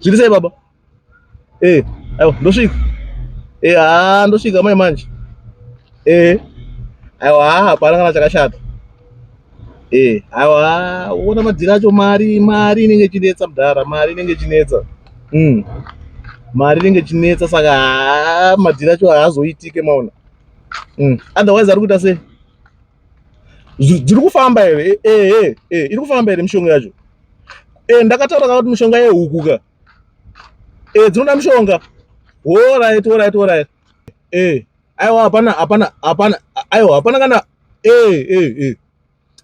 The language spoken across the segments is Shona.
Zviri sei baba? Eh, aiwa ndosvika. Eh, ah ndosvika mai manje. Eh. Aiwa hapana kana chakashata. Eh, aiwa uona madzira acho mari mari inenge chinetsa mdara, mari inenge chinetsa. Mm. Mari inenge chinetsa saka ah, madzira acho haazoitike maona. Mm. Otherwise ari kuita sei? dziri kufamba here ehe e, iri kufamba here mishonga yacho e, ndakataura ka kuti mishonga yehuku ka e, dzinoda mishonga orit orit orit e, aiwa hapana hapana hapana aiwa hapana kana e, e, e.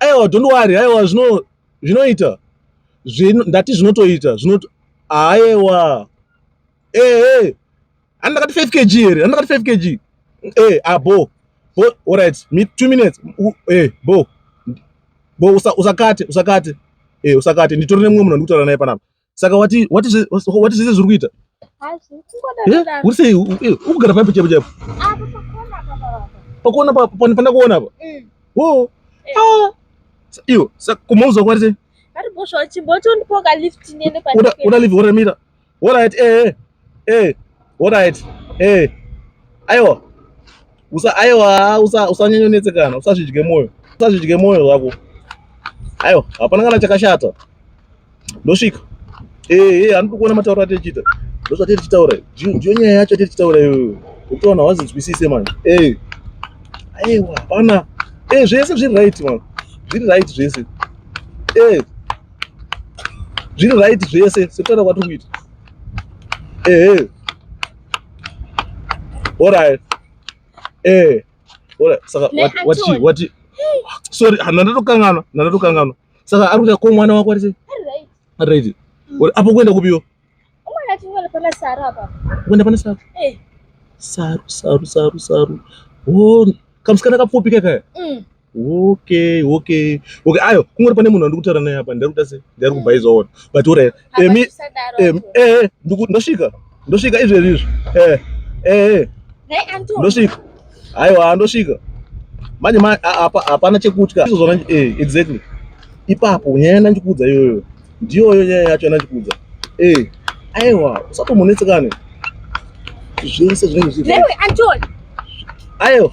aiwa don't worry aiwa zvino zvinoita ndati zvinotoita zvinoto aiwa ehe Ani ndakati 5 kg here? Ani ndakati 5 kg. Eh, ah bo. Bo, all right. Me 2 minutes. U, eh, bo. Bo usa usakate, usakate. Eh, usakate. Nditori nemumwe munhu ndikutaura naye panapa. Saka wati wati wati zvese zviri kuita? Hazvi. Kungoda. Eh, uri sei? Ukugara pampi chepo chepo. Ah, pakona papa. Pakona papa, panifana kuona apa. Mm. Wo. Eh. Ah. Iyo, saka kumauza kwati? Ari bosho chimbotondipoka lift niende pa. Una live ora mira. Alright, eh, eh, alright, eh. Aiwa. Usa aiwa, usa usanyanya unetsekana, usazvidye moyo. Usazvidye moyo wako. Aiwa, hapana kana chakashata. Ndosvika. Eh, eh, anoda kuona matauro atechita. Ndosvati tichitaura. Ndiyo nyaya yacho tichitaura iyoyo. Ukaona wazinzwisise manje. Eh. Aiwa, hapana. Eh, zvese zviri right manje. Zviri right zvese. Eh. zviri right zvese sekutana kwatiri kuita ehe orit ehe orit saka wati wati sorry nandatokanganwa nandatokanganwa saka ari kuita ko mwana wako arise ari right mm. apo kuenda kupiwo kuenda pane saru eh. saru saru saru saru o oh, kamusikana kapfupi kakaya mm. Okay, okay. Okay, ayo kungori pane munhu andikutaura naye apa ndari kuda se ndari kubhaiza ona. But ora emi em eh ndosvika. Ndosvika izvi izvi. Eh. Eh. Ndosvika. Aiwa ndosvika. Manje ma apa hapana chekutya. Izozona eh exactly. Ipapo nyaya ndikuudza iyoyo. Ndiyoyo nyaya yacho ndikuudza. Eh. Aiwa, usapomonetsekane. Zvese zvinenge zviri. Lewe Anton. Ayo.